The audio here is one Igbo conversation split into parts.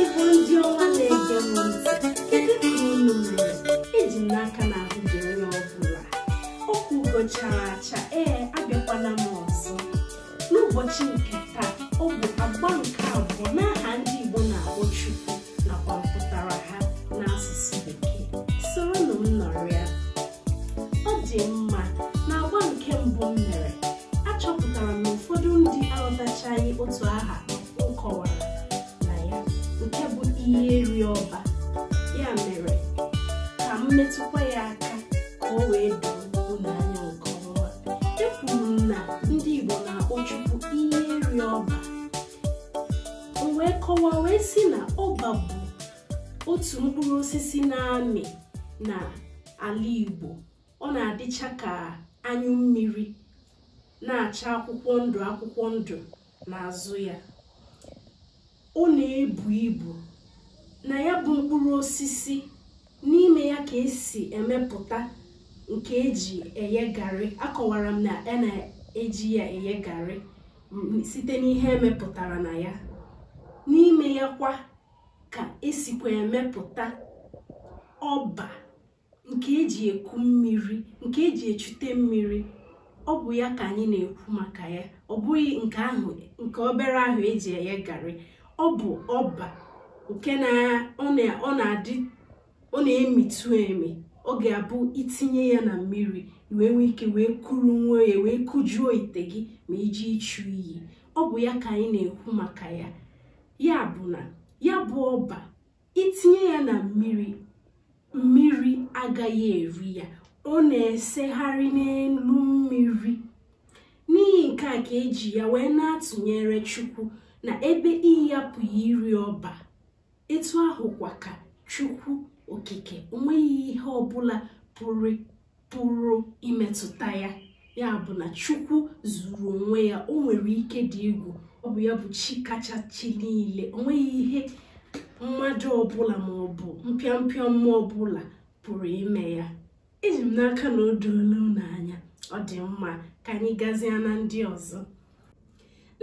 Igbo ndị ọma na-ege m ntị kedu ka unu mere eji m n'aka na ahụ dị onye ọbụla okwu ugo chara acha ee abịakwana m ọzọ n'ụbọchị nke taa ọ bụ agba nke abụọ n'aha ndị Igbo na-akpọ Chukwu ọ dị mma na agba nke mbụ m mere achọpụtara m na ụfọdụ ndị aghọtachaghị otu aha m kọwara na ya nke bụ iyi eri ọba ya mere ka m metụkwa ya aka ka o wee doo unu anya nke ọma ekwuru m na ndị Igbo na-akpọ Chukwu iyi eri ọba m wee kọwaa wee sị na ọba bụ otu mkpụrụ osisi na-amị na ala Igbo ọ na-adịcha ka anyụ mmiri na-acha akwụkwọ ndụ akwụkwọ ndụ n'azụ ya ọ na-ebu ibu na ya bụ mkpụrụ osisi n'ime ya ka esi emepụta nke eji eghe garị akọwara m na a na-eji ya eghe garị site n'ihe emepụtara na ya n'ime ya kwa ka esikwa emepụta ọba nke eji eku mmiri nke eji echute mmiri ọ bụ ya ka anyị na-ekwu maka ya ọ bụghị nke obere ahụ eji eghe garị ọ bụ ọba nke na ọ na- ọ na-adị ọ na-emitụ emi ọ ga-abụ itinye ya na mmiri i wee nwee ike wee kuru nwayọ wee kujuo ite gị ma i je ichu iyi ọ bụ ya ka anyị na-ekwu maka ya ya bụ na ya bụ ọba itinye ya na mmiri mmiri agaghị eri ya ọ na-esegharị n'elu mmiri n'ihi nke a ka eji ya wee na-atụnyere chukwu na ebe iyi apụghị iri ọba etu ahụkwa ka chukwu okike onweghị ihe ọbụla pụrụ pụrụ imetụta ya ya bụ na chukwu zuru onwe ya o nwere ike dị egwu ọ bụ ya bụ chi kacha chi niile o nweghị ihe mmadụ ọbụla ma ọ bụ mpịampịa mmụọ ọbụla pụrụ ime ya eji m n'aka na o doola unu anya ọ dị mma ka anyị gazie na ndị ọzọ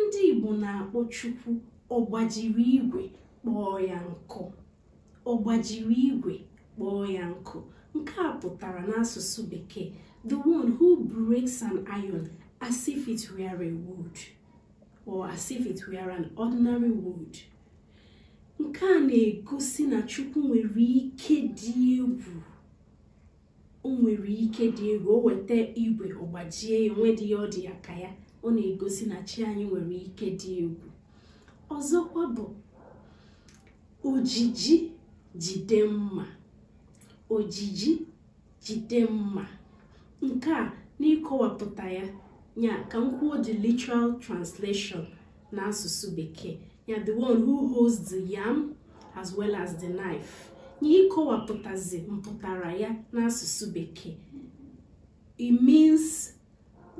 ndị igbo na-akpọ chukwu ọgbajiri igwe kpọọ ya nkụ ọgbajiri igwe kpọọ ya nkụ nke a pụtara n'asụsụ bekee the one who breaks an iron as if it were a wood or as if it were an ordinary wood nke a na-egosi na chukwu nwere ike dị egwu o nwere ike dị egwu o weta igwe ọ gbajie ya onwedị ya ọ dị ya ka ya ọ na-egosi na chi anyị nwere ike dị egwu ọzọkwa bụ o ji ji jide mma o ji ji jide mma nke a n'ịkọwapụta ya ya ka m kwuo the literal translation n'asụsụ bekee ya the one who holds the yam as well as the knife n'ịkọwapụtazi mpụtara ya n'asụsụ bekee it means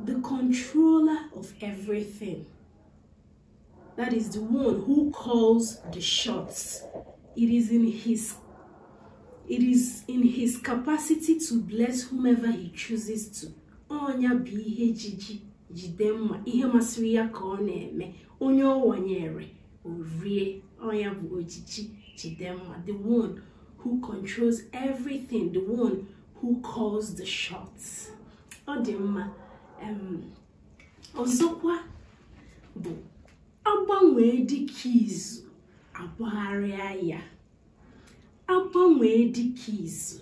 the controller of everything that is the one who calls the shots it is in his it is in his capacity to bless whomever he chooses to ọ nya bụ ihe ji ji jide mma ihe masịrị ya ka ọ na-eme onye ọ wanyere o rie ọ nya bụ o ji ji jide mma the one who controls everything the one who calls the shots ọ dị mma ọzọkwa bụ agbanwee dike izu agbagharịa ya agbanwee dike izu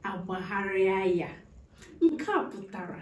agbagharịa ya nke a pụtara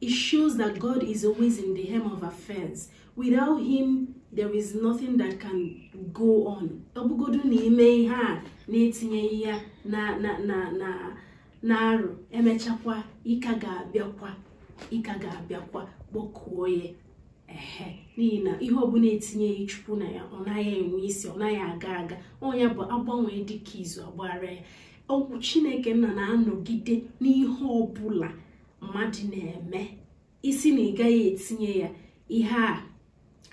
It shows that God is always in the helm of affairs. Without him, there is nothing that can go on. Ọ bụgodu na i mee ihe a na-etinyeghị ya na na na na na arụ e mechakwa ị ka ga-abịakwa ị ka ga-abịakwa kpọkuo ya ehe n'ihi na ihe ọbụla e tinyeghị chukwu na ya ọ naghị enwe isi ọ naghị aga aga ọ nya bụ agbanwee dike izu agbagharịa ya ọ bụ chineke nna na-anọgide n'ihe ọbụla mmadụ na-eme ị sị na ị gaghị etinye ya ihe a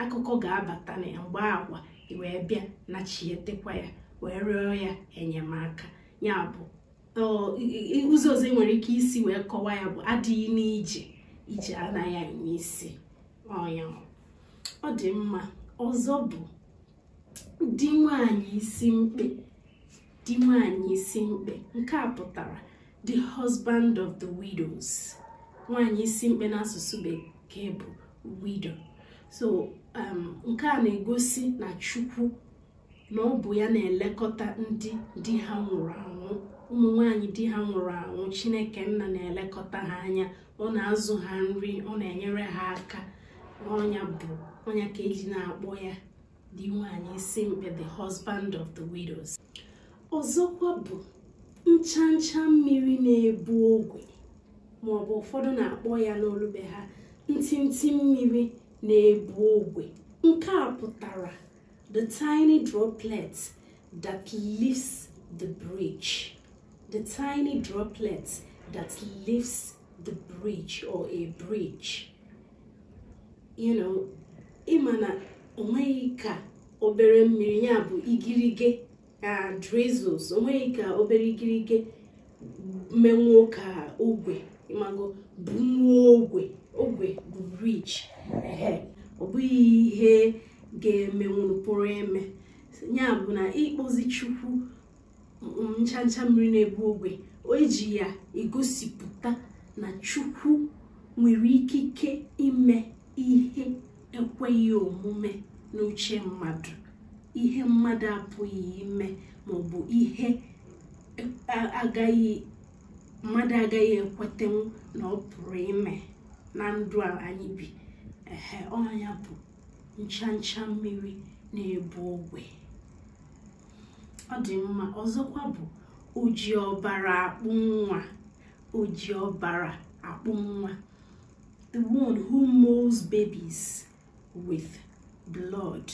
akụkọ ga-abata na ya mgbe ahụ i wee bịa na-echetekwa ya wee rịọ ya enyemaka ya bụ ụzọ ọzọ ị nwere ike isi wee kọwaa ya bụ adịghị n'ije ije anaghị enwe isi ọ nya ọ dị mma ọzọ bụ di nwaanyị isi mkpe di nwaanyị isi mkpe nke a pụtara the husband of the widows nwaanyị isi mkpe n'asụsụ bekee bụ widow so um, nke a na-egosi na chukwu na ọ bụ ya na-elekọta ndị di ha nwụrụ anwụ ụmụ nwanyị di ha nwụrụ anwụ chineke nna na-elekọta ha anya ọ na-azụ ha nri ọ na-enyere ha aka ọ nya bụ ọ nya ka e ji na-akpọ ya di nwaanyị isi mkpe the husband of the widows ọzọkwa bụ ncha ncha mmiri na-ebu ogwe ma ọ bụ ụfọdụ na-akpọ ya n'olu be ha ntịntị mmiri na-ebu ogwe nke a pụtara the tiny droplet that lifts the bridge the tiny droplet that lifts the bridge or a bridge you know ịma na onweghị ka obere mmiri ya bụ igirige na drizzles onweghị ka obere igirige menwuo ka ogwe ịmago bunwuo ogwe ogwe bụ bridge ehe ọ bụghị ihe ga-emenwu pụrụ eme ya bụ na ịkpọzi chukwu ncha ncha mmiri na-ebu ogwe o ji ya egosipụta na chukwu nwere ikike ime ihe ekweghị omume n'uche mmadụ ihe mmadụ apụghị ime maọbụ ihe agaghị mmadụ agaghị ekwetenwu na ọ pụrụ ime na ndụ a anyị bi ehe ọ nya bụ ncha ncha mmiri na-ebu ogwe ọ dị mma ọzọkwa bụ oji ọbara akpụ nwa oji ọbara akpụ nwa the one who molds babies with blood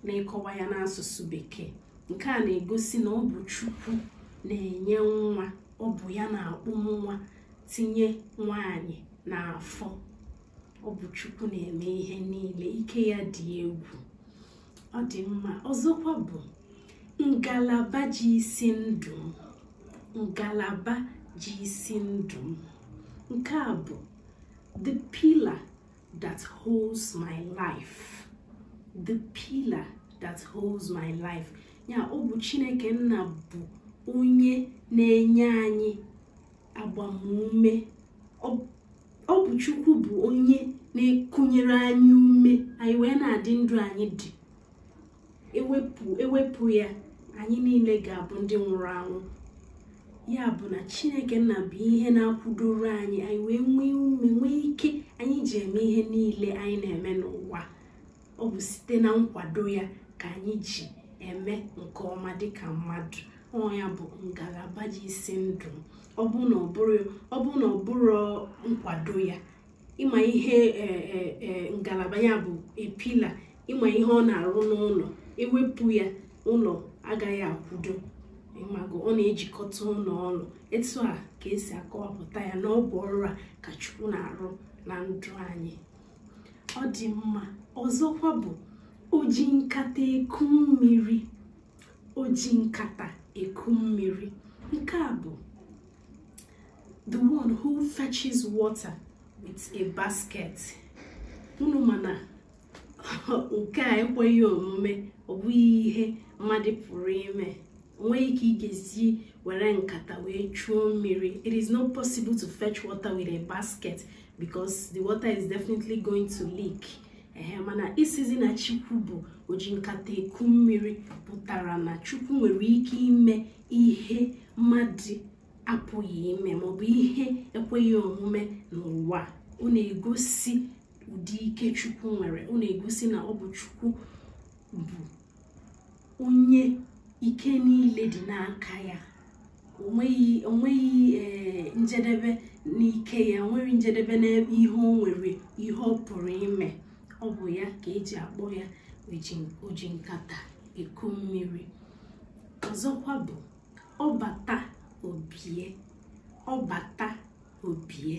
n'ịkọwa ya n'asụsụ bekee nke a na-egosi na ọ bụ chukwu na-enye nwa ọ bụ ya na-akpụ nwa tinye nwaanyị n'afọ ọ bụ chukwu na-eme ihe niile ike ya dị egwu ọ dị mma ọzọkwa bụ ngalaba ji isi ndụ m ngalaba ji isi ndụ m nke a bụ the pillar that holds my life the pillar that holds my life ya ọ bụ chineke nna bụ onye na-enye anyị agbamume ọ bụ chukwu bụ onye na-ekunyere anyị ume anyị wee na-adị ndụ anyị dị ewepụ ya anyị niile ga-abụ ndị nwụrụ anwụ ya bụ na chineke nna bụ ihe na-akwụdoro anyị anyị wee nwee ume nwee ike anyị ji eme ihe niile anyị na-eme n'ụwa ọ bụ site na nkwado ya ka anyị ji eme nke ọma dịka mmadụ ọ ya bụ ngalaba ji isi ndụ m ọ bụ na ọ bụ na ọ bụrụ nkwado ya ịma ihe e, e, e, ngalaba ya bụ a pillar ịma ihe ọ na-arụ n'ụlọ ewepụ ya ụlọ agaghị akwụdo ịmago ọ na-ejikọta ụlọ ọnụ etu a ka esi akọwapụta ya na ọ bụ ọrụ a ka Chukwu na-arụ na ndụ anyị ọ dị mma ọzọkwa bụ oji nkata eku mmiri oji nkata eku mmiri nke a bụ the one who fetches water with a basket unu ma na nke a ekweghị omume ọ bụghị ihe mmadụ pụrụ ime nwee ike igezi were nkata wee chuo mmiri it is not possible to fetch water with a basket because the water is definitely going to leak ehe mana ịsịzị na chukwu bụ oji nkata eku mmiri pụtara na chukwu nwere ike ime ihe mmadụ apụghị ime maọbụ ihe ekweghị omume n'ụwa ọ na-egosi ụdị ike chukwu nwere ọ na-egosi na ọ bụ chukwu bụ onye ike niile dị n'aka ya onweghị onweghị ee njedebe n'ike ya onweghị njedebe n'ebe ihe o nwere ihe ọ pụrụ ime ọ bụ ya ka eji akpọ ya oji- oji nkata eku mmiri ọzọkwa bụ ọbata obie ọbata obie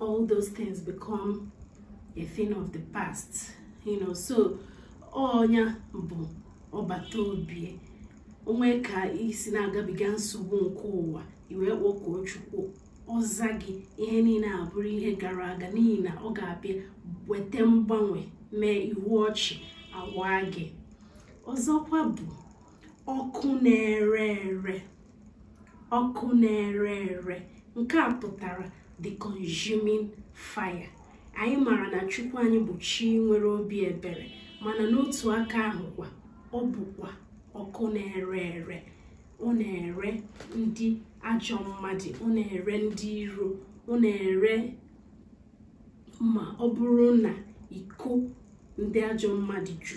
all those things become a thing of the past you know so ọ nya bụ ọbata obie o nwee ka i si na-agabiga nsogbu nke ụwa i wee kpọkuo chukwu ọ za gị ihe niile abụrụ ihe gara aga n'ihi na ọ ga-abịa weta mgbanwe mee ihu ọchị awa gị ọzọkwa bụ ọkụ na-ere ere ọkụ na-ere ere nke a pụtara the consuming fire anyị maara na chukwu anyị bụ chi nwere obi ebere mana n'otu aka ahụ kwa ọ bụkwa ọkụ na-ere ere ọ na-ere ndị ajọ mmadụ ọ na-ere ndị iro ọ na-ere ma ọ bụrụ na iko ndị ajọ mmadụ ju